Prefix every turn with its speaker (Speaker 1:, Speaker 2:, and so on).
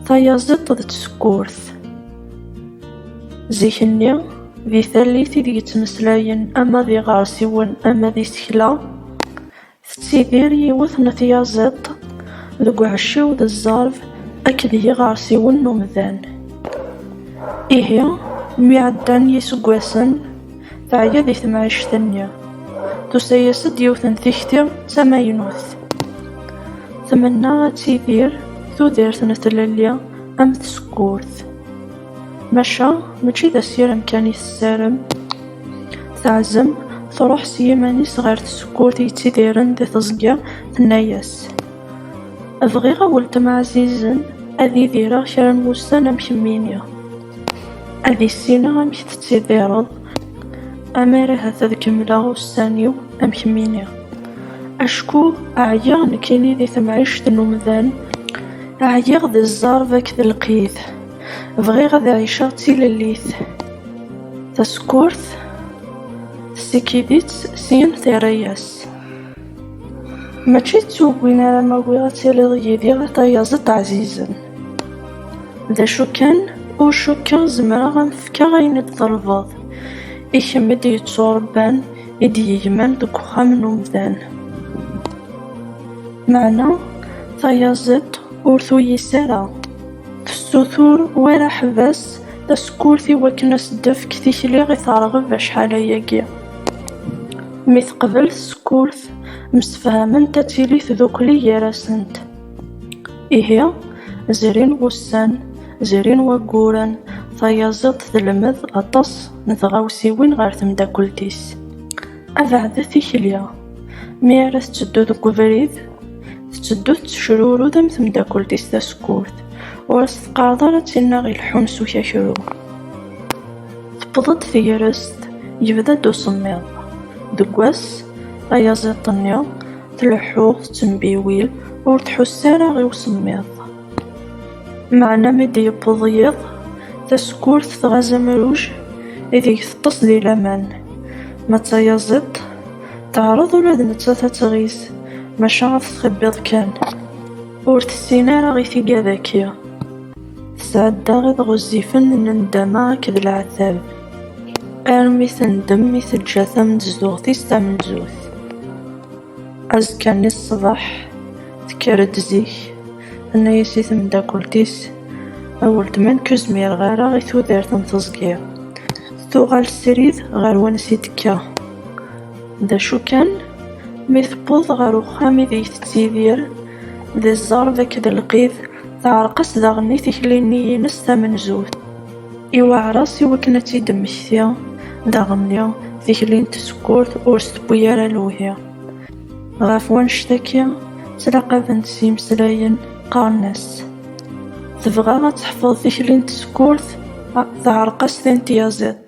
Speaker 1: Tayaziḍt d tsekkurt. Zik-nni, di tallit ideg ttmeslayen ama d iɣersiwen ama d isekla, tettidir yiwet n tyaziḍt deg uɛecciw d zzerb akked yiɣersiwen n umdan. Ihi, mi ɛeddan yiseggasen, Teɛya deg temɛict-nni. Tusa-yas-d yiwet n tikti d tamaynut. Tmenna ad tidir tudert n tlelli am tsekkurt. Maca mačči d asirem kan i tessarem. Teɛzem truḥ s yiman-is ɣer tsekkurt yettidiren di teẓgi, tenna-yas, Bɣiɣ a weltma ɛzizen ad idireɣ kra n wussan am kemmini. Ad issineɣ amek tettidireḍ, amar ahat ad kemmleɣ ussan-iw am kemmini. Acku ɛyiɣ nekkini di temɛict n umdan, ɛyiɣ di zzerb akked lqid. Bɣiɣ ad ɛiceɣ d tilellit. Tasekkurt tessikid-itt, syin terra-yas. Mačči d tugin ara m-awiɣ ad tiliḍ yid-i a tayaziḍt ɛzizen. D acu kan, ur cukkeɣ zemreɣ ad m-fkeɣ ayen i d-ṭelbeḍ, i kemm i d-yetturebban, i d-yegman deg uxxam n umdan. Meɛna tayaziḍt ur tuyis ara, tessutur war aḥbas tasekkurt i wakken ad s-d-tefk tikli i terɣeb acḥal ayagi. Mi teqbel tsekkurt, msefhament ad tili tdukli gar-asent. Ihi, zrin wussan, zrin wayyuren, tayaziḍt telmed aṭas n tɣawsiwin ɣer temdakelt-is. Abeɛd tikli, mi ara tetteddu deg ubrid, tetteddu tettecrurud am temdakelt-is tasekkurt, ur as-teqqareḍ ara d tinna ileḥḥun s ukakru. Tewweḍ-d tegrest, yebda-d usemmiḍ. Deg wass, ayaziḍ-nni, tleḥḥu, tettembiwil, ur tḥuss ara i usemmiḍ. Meɛna mi d-yewweḍ yiḍ, tasekkurt tɣaz amruj ideg teṭṭes di laman. Ma d tayaziḍt, teɛreḍ ula d nettat ad tɣiz, maca ad t-txibbiḍ kan. Ur tessin ara i tigad-agi. Tesɛedda iḍ ɣezzifen n nndama akked leɛtab, armi tendem mi teǧǧa tamenzzuɣt-is tamenzut. Azekka-nni ṣṣbeḥ, tekker-d zik, tenna-as i temdakelt-is, A weltma nekk ur zmireɣ ara i tudert n teẓgi. Tuɣal srid ɣer wansi d-tekka. D acu kan, mi tewweḍ ɣer uxxam ideg tettidir, d zzerb akked lqid, teɛreq-as daɣen i tikli-nni-ines tamenzut. Iweɛer-as i wakken ad tt-id-temmekti, daɣenni, tikli n tsekkurt ur s-tewwi ara lewhi. Ɣef wannect-agi, ttlaqaben-tt yimeslayen, qqaren-as, Tebɣa ad teḥfeḍ tikli n tsekkurt, teɛreq-as tin n tyaziḍt.